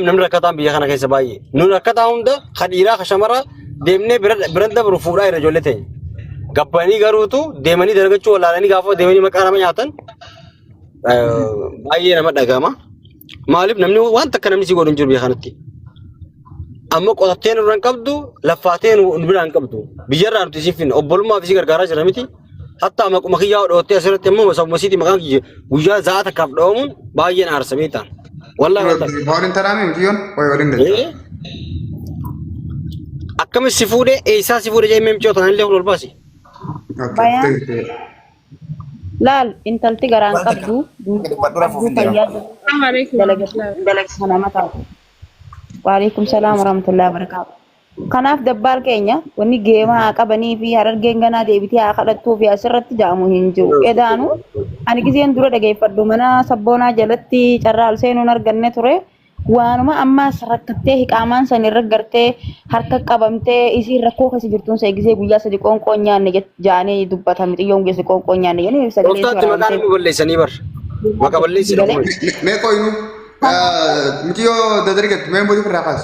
namni rakkataan biyya kana keessa baay'ee. Nun rakkataa hunda ka dhiiraa ka shamaraa deemnee bira- bira dabru fuudhaa irra ijoollee ta'e. Gabbanii garuutu deemanii dalagachuu wallaalanii gaafa deemanii maqaa nama nyaatan eh, baay'ee nama dhagama. Maaliif namni waan takka namni si godhu hin jiru biyya kanatti. Amma qotattee nurra hin qabdu, laffaattee nu nu biraan hin qabdu. Biyyarraa nuti isiif finna. Obbolummaaf isii gargaaraa jira miti. Hatta maquma kiyyaa dhoottee asirratti immoo osoo masiitii maqaan kiyya guyyaa za'a takkaaf dhoomuun baay'een aarsa beektaa. Wallahi wallahi. Boon hin tanaamee miti yoon wayi waliin dachaa. Eh? Akkamis si fuudhee eessaa si fuudhee jennee michoo tanaan illee ol baasi. Bayaan. Laal intalti garaan qabdu duuti qabdu fayyaa Assalamu alaikum. dalagaa nama taatu. Waalaikum salaam warahmatullahi wabarakatuh. Kanaaf dabbaal keenya wanni geemaa haa qabanii fi harargeen ganaa deebitee haa kadhattuu fi asirratti ja'amu hin jiru. Edaanu ani gizeen dura dhageeffadhu mana sabboonaa jalatti carraa ol seenuun arganne ture. Waanuma ammaas rakkattee hiqaamaan san irra gartee harka qabamtee isiin rakkoo keessa jirtuun see gizee guyyaa sadi qoonqoon nyaanne jett- ja'anii dubbatan mixiyyoon geesse qoonqoon nyaanne jedhanii sagalee Gooftaatti maqaan waraabamtee inni balleessanii bar. Maqa balleessidha galee. kun. Me- Meeqoo inuu? Kanaaf Miciyoo dadargatti mee mootii firraa kaas.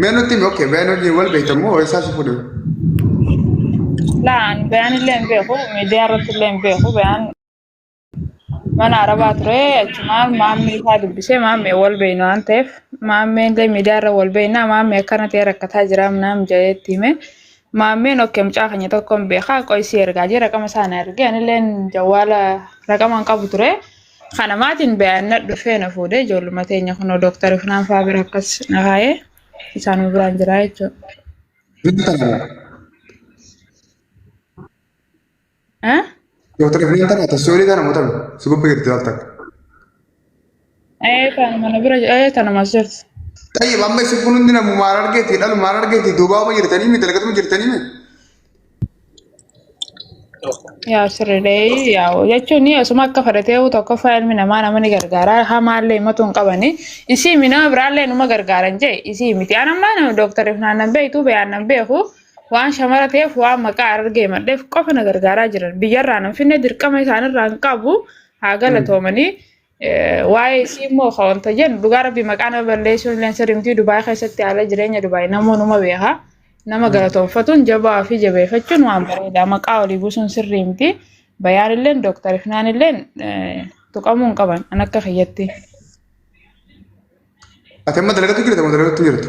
Mee nutti himi okkee bayaan wajjin wal beektan moo eessaa si fuudhe? Laan bayaan illee hin beeku, miidiyaa irratti illee hin beeku. Bayaan mana arabaa ture achumaan maammee isaa dubbisee maammee wal beekna waan ta'eef maammee illee miidiyaa irra wal beekna maammee akkana ta'e rakkataa jira naam jedheetti hime. Maammeen okkee mucaa keenya tokkoon beekaa qo'isii ergaa jee raqama isaa na ergee anilleen jawwaala raqama hin qabu ture. Kana maatiin bayaannadhu dhufee na fuudhee ijoolluma teenya kunoo dooktar Ifnaan fa'aa bira akkas na kaa'ee isaanuma biraan jira jechuudha. Dooktar Ifnaan. Eh? Dooktar Ifnaan tana tasoorii tana moo tana si gubbaa jirti laal takka. Eh, tanuma na bira jira. Eh, tanuma as jirti. Xayyib amma isin kun hundi namu maal argeeti dhalu maal argeeti duubaama jirtanii mi dalgatuma jirtanii mi. Yaa sirriidhee yaa jechuun osuma akka fedhatee tokkoffaa ilmi namaa nama ni gargaara hamaallee himatu hin qabani isii minama biraallee numa gargaaran jee isii miti an ammaa nama dooktarif naannan beektu biyaan nan beeku waan shamara ta'eef waan maqaa argee madheef qofa na gargaaraa jiran biyyarraa nan finne dirqama isaanirraa hin qabu haa galatoomanii Waa'ee isii immoo ka wanta jennu dhugaa rabbi maqaa nama balleessuun illee sirrii miti Dubaay keessatti haala jireenya Dubaay namoonuma beeka. Nama galatoonfatuun jabaa fi jabeeffachuun waan bareedaa maqaa olii buusuun sirrii miti. Bayaan illee dooktar Ifnaan illee tuqamuu hin qaban an akka kiyyatti. Ati amma dalagatu jirta moo dalagatu jirtu?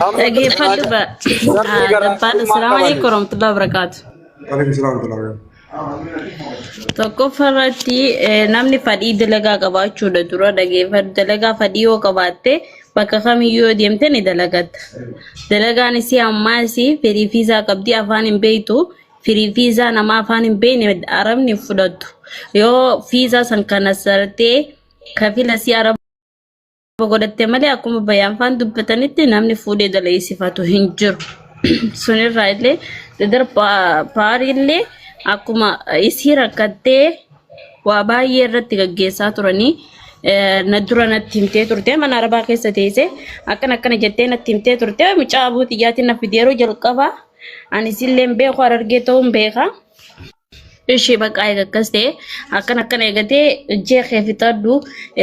Amma kan Dhaggeeffadhu ba rabbi ah, garaa dabbaan summaa Assalaamu qabani. alaikum warahmatullahi wabarakaatu. Waalaikum salaam wa rahmatullahi wa barakatuh. Tokkoffaa irratti eh, namni fadhii dalagaa qabaachuudha dura dhaggeeffadhu. Dalagaa fadhii yoo qabaatte bakka kamiyyuu yoo deemte ni dalagatta. Dalagaan isii ammaa isii firii fi isaa qabdi afaan hin beektu. Firii fi isaa nama afaan hin beekne arabni hin fudhattu. Yoo fi isaa san kana sartee kafila si araba sababa godhatte malee akkuma bayaanfaan dubbatanitti namni fuudhee daleessifatu hin jiru. Sunirraa illee dadar paarii illee akkuma isii rakkattee waa baay'ee irratti gaggeessaa turanii eh, na dura natti himtee turte mana arabaa keessa teesse akkana akkana jettee natti himtee turte mucaa abuu xiyyaatiin na fideeroo jalqabaa ani isillee hin beeku harargee ta'uun beekaa. Ishii baqaa eega akkas ta'e akkan akkana eegatee ijjee kee fixadhu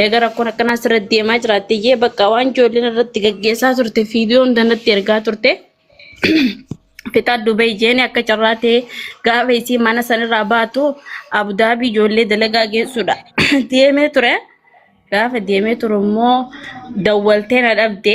eega rakkoon akkanaa sirratti deemaa jiraatte iyyee bakka waan ijoolleen irratti gaggeessaa turte viidiyoo hunda natti ergaa turte fixadhu bahi jeeni akka carraa ta'e gaafa isii mana sanirraa baatu abudaabii ijoollee dalagaa geessuudha deemee ture gaafa deemee turu immoo dawwaltee na dhabde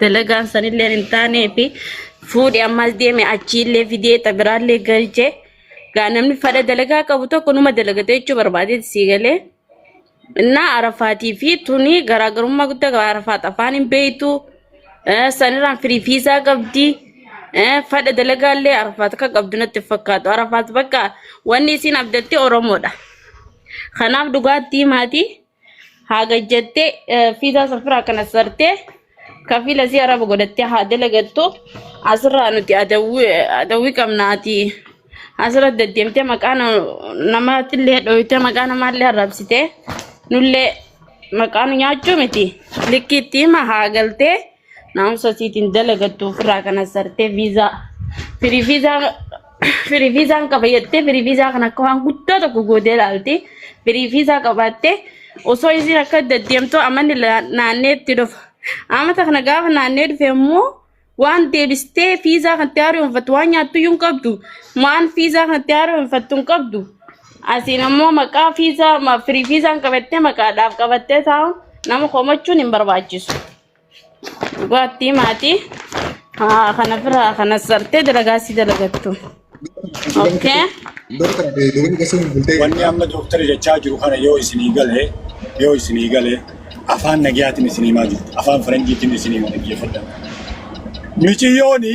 dalagaan sanillee hin taanee fi fuudhi ammas deeme achiillee fidee xabiraallee galchee gaa namni fadha dalagaa qabu tokko numa dalagate jechuu barbaadeeti sii galee innaa arafaatii fi tuni garaagarummaa guddaa qaba arafaat afaan hin beektu eh, sanirraan firii fiisaa qabdi eh, fadha dalagaallee arafaat akka qabdu natti hin fakkaatu arafaat bakka wanni isiin abdatte oromoodha kanaaf dhugaattii maatii haa gajjattee fiizaa safiraa kana sartee kafiila si araba godhattee haa dalagattu asirraa nuti adawwii qabna ati asirra deddeemtee maqaa namaatillee dhooytee maqaa namaallee arrabsitee nullee maqaa nu nyaachuu miti likkiitti hima haa galtee. Naamsa siitiin dalagattu ofirraa kana sartee viizaa firii viizaa firii viizaan qaba jettee firii viizaa kan akka waan guddaa tokko gootee ilaalti. Firii viizaa qabaattee osoo isiin akka deddeemtu amanni la- naannee itti dhufa. Amata kana gaafa naannee dhufe immoo waan deebistee viizaa kan itti haaromfattu waan nyaattu iyyuu hin qabdu. Waan viizaa kan itti haaromfattu hin qabdu. Asiin ammoo maqaa viizaa ma- firii viizaan qabattee maqaadhaaf qabattee taa'u nama komachuun hin barbaachisu. Dhugaattii maatii haa kana biraa kana sartee dalagaa si dalagattu. Okkee. Doktora fi dubarri gasuu hin bultee. Wanni amma dooktarri jechaa jiru kana yoo isinii gale yoo isinii gale afaan nagayaatiin isinii maa jirtu afaan faranjiitiin isinii maa dhaggeeffadha. Miciyyooni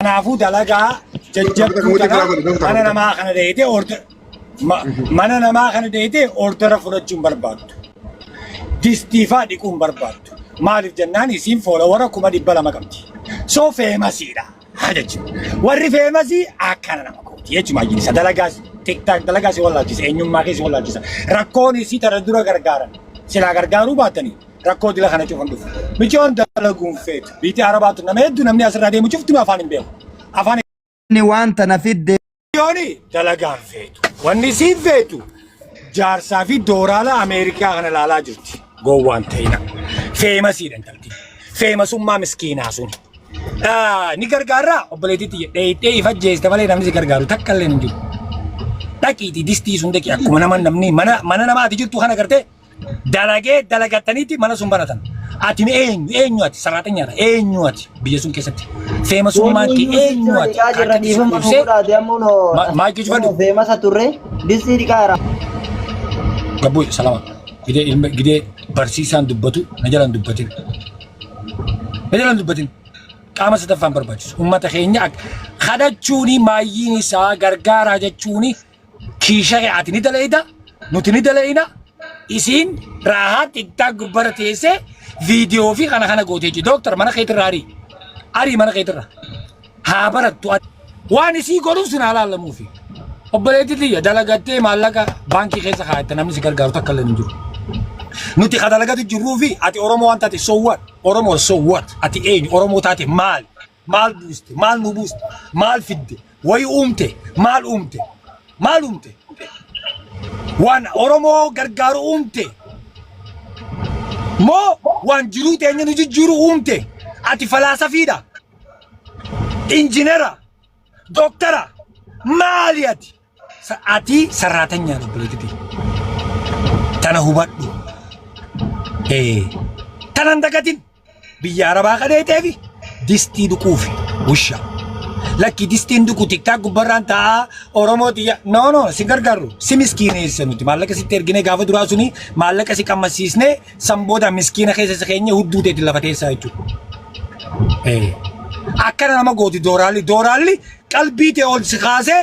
Kanaafuu dalagaa jajjabduu kana mana namaa kana deeyitee order mana namaa kana deeyitee ordera fudhachuun barbaaddu. Distiifaa dhiquun barbaaddu. Maaliif jennaan isiin foolowara kuma dhibba lama qabdi. So feemasiidha. Haa jechuun. Warri feemasii akkana nama kooti jechuudha maajilisa dalagaa tiktaak dalagaa si wallaalchisa eenyummaa kee si wallaalchisa rakkoon isii tara dura gargaaran silaa gargaaruu baatanii. rakkoo dila kana cufan dhufu. Micoon dalaguun feetu. Biitii Arabaatu nama hedduu namni asirraa deemu cufti afaan hin beeku. Afaan Inni waan tana fidde Micooni dalagaan feetu. Wanni isiin feetu jaarsaa fi dooraala Ameerikaa kana ilaalaa jirti. Gowwaan ta'ina. Feemasiidha intalti. Feemasummaa miskiinaa sun. Ah, Ni gargaarraa obboleettiitti jedhee dhee ifa jeeste malee namni si gargaaru takka illee hin jiru. Dhaqiitii distii sun dhaqi akkuma nama namni mana mana namaati jirtu kana gartee dalagee dalagattaniitti mana sun banatan. Ati mee eenyu eenyu ati saraaxanyaadha eenyu ati biyya sun keessatti feemasummaan kee eenyu ati Jirra dhiifama nu Ibsee, godhaate ammoo no. Ma- maal jechuu fadhu? Feemasa turre distii dhiqaa irraa. gabbuu salama gidee ilma gidee barsiisaan dubbatu na jalan dubbatin na jalan dubbatin qaama sadaffaan barbaachisu ummata keenya ak- kadhachuuni maayyiin isaa gargaaraa jechuuni Kiishaa'e ati ni dalayda, nuti ni dalayna, isiin raahaa tiktaak gubbara teessee viidiyoo fi kana kana gootee jee. Dooktar mana keetirra arii. Arii mana keetirra. Haa barattu. Waan isii godhuuf sin haa laallamuufi. Obboleetti tiyya dalagattee maallaqa baankii keessa kaa'atte namni si gargaaru takka illee hin jiru. Nuti ka dalagatu jirruu fi ati Oromoo waan taate so what? Oromoo so what? Ati eenyu? Oromoo taate maali? maal buuste maal nu buuste maal fidde wayi uumte maal uumte maal uumte waan oromoo gargaaru uumte moo waan jiruu teenya nu jijjiiru uumte ati falaasafiidha injinera dooktara maali ati Sa- Ati sarraatanyaan obboleettitii. Tana hubadhu. Ee. Tana hin dagatin. Biyya arabaa kadheetee fi distii dhuquufi. Wusha. Lakki distiin dhuqu tiktaa gubbarraan taa'aa Oromoo tiyya. No no si gargaarru. Si miskiineessa nuti. Maallaqa sitti ergine gaafa duraa suni maallaqa si qammasiisne san booda miskiina keessa si keenya hudduu teetti lafa teessaa jechuudha. Ee. Akkana nama gooti dooraalli. Dooraalli qalbii tee ol si kaasee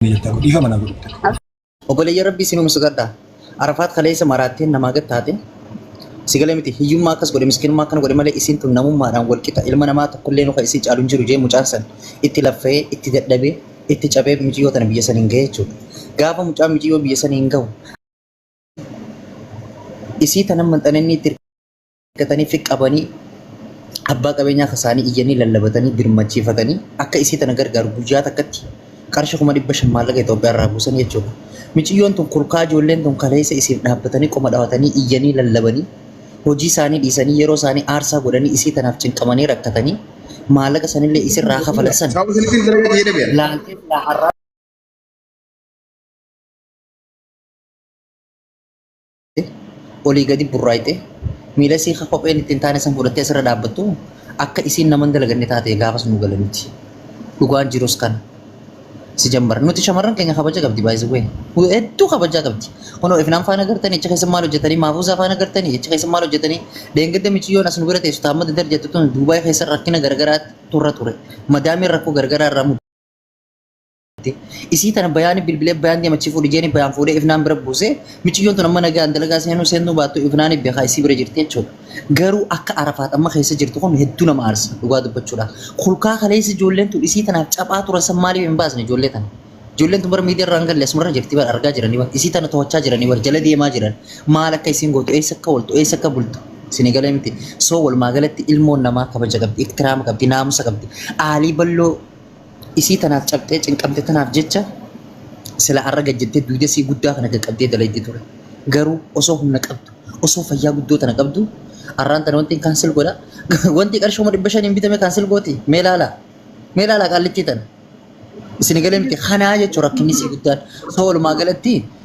Dhiifama na godhu. Obboleeyya Rabbii isin humsu gadha. Arafaat kaleessa maraatteen namaa gad taate. Si galee miti hiyyummaa akkas godhe miskinummaa akkana godhe malee isiin tun namummaadhaan wal qixa ilma namaa tokkollee nuka isii caalu hin jiru jee mucaan san itti laffee itti dadhabee itti cabee miciyyoo tana biyya san hin gahe jechuudha. Gaafa mucaan miciyyoo biyya san hin gahu isii tanan manxanee inni itti argatanii fi qabanii abbaa qabeenyaa kasaanii iyyanii lallabatanii birmachiifatanii akka isii tana gargaaru guyyaa takkatti qarshii kuma dhibba shan maallaqa Itoophiyaa irraa buusan jechuudha. Miciyyoon tun kurkaa ijoolleen tun kaleessa isiif dhaabbatanii qoma dhawatanii iyyanii lallabanii hojii isaanii dhiisanii yeroo isaanii aarsaa godhanii isii tanaaf cinqamanii rakkatanii maallaqa sanillee isirraa kafalan san Saawwa sanitiin dalagaa ta'ee dhabeera. laaltee silaa har'aa olii gadi burraayxe miila isii ka kopheen ittiin taane san fudhattee asirra dhaabbattu akka isiin naman dalaganne taate gaafas nu gala miti. Dhugaan jirus kana. Si jammar. Nuti shamarran keenya kabaja qabdi baay'isuu hedduu kabajaa qabdi. Kunoo ifnaan faana gartanii achi keessa maal hojjetanii maafuusaa faana gartanii achi keessa maal hojjetanii deengedda miciyyoon as nu bira teessu taamma dadar jettu tun Duubaay keessa rakkina garagaraa turra ture. Madaamiin rakkoo garagaraa irraa mudate. Isii tana bayaani bilbilee bayaan deemachii fuudhi jeeni bayaan fuudhee ifnaan bira buusee miciyyoon tun amma nagaan dalagaa seenuu seennuu baattu ifnaani beekaa isii bira jirti jechuudha. Garuu akka arafaat amma keessa jirtu kun hedduu nama aarsa dhugaa dubbachuudhaaf. Kulkaa kaleessa ijoolleen tun isii tanaaf caphaa turan san maaliif hin baasne ijoollee tana. Ijoolleen tun bara miidiyaa irraa hin galle asumarra jirti bara argaa jiranii bara isii tana to'achaa jiranii bara jala deemaa jiran maal akka isiin gootu eessa akka ooltu eessa akka bultu isinii galee miti. Soo walumaa galatti ilmoon namaa kabaja qabdi iktiraama qabdi naamusa qabdi aalii balloo Isii tanaaf cabxee cinqamte tanaaf jecha sila arra gad jettee duydasii guddaa kana qaqqabdee dalaydi ture. Garuu osoo humna qabdu, osoo fayyaa guddoo tana qabdu arraan tana wantiin kaansel godha. Wantii qarshooma dhibba shaniin bitame kaansel gooti. Mee laalaa. Mee laalaa qaallittii tana. Isin galee miti kanaa jechuun rakkinni isii guddaan. Soo walumaa galatti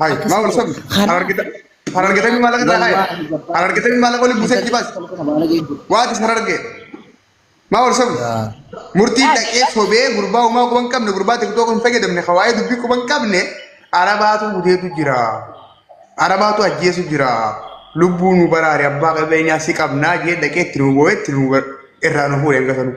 Hai, Akkas mau langsung. ta'e. Karaa- Harar kita, harar kita ini malah kena hai. Wallaahi babbaa. Harar kita ini malah kau lihat buset jibas. Waati harar ke. Mau langsung. Murtii dhaqee sobee gurbaa umaa quban qabne gurbaa tiktoo kun fayyadamne hawaayee dubbii quban qabne arabaatu gudeetu jira. Arabaatu ajjeesu jira. Lubbuu nu baraare abbaa qabeenyaa si qabnaa jee dhaqee itti nu boo'ee itti nu bar- irraa nu fuudhe hin gasanuu.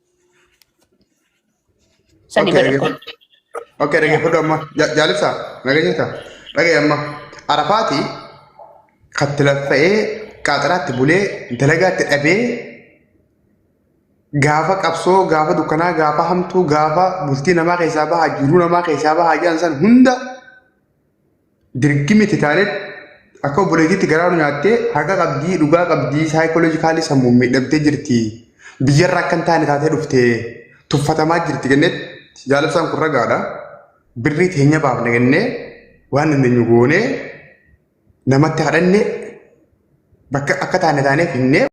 Sani Okay, bada dhaggeeffadhu. kun. Okay, dhaggeeffadhu amma. Ja- Jaalibsaa, nageenya isaa. Dhaga'i amma. Arafaati katti laffa'ee qaaxiraatti bulee dalagaatti dhabee gaafa qabsoo gaafa dukkanaa gaafa hamtuu gaafa bultii namaa keessaa bahaa jiruu namaa keessaa bahaa jedhan san hunda Dirgimi itti taane akka obboleettiitti garaa nu nyaattee haqa qabdii dhugaa qabdii saayikooloojikaalii sammuun miidhamtee jirti. Biyyarra akka hin taane taatee dhuftee tuffatamaa jirti kennetti jaalabsaan kun ragaadha. Birrii teenya baafne kennee waan dandeenyu goonee namatti kadhanne bakka akka taane taanee finnee.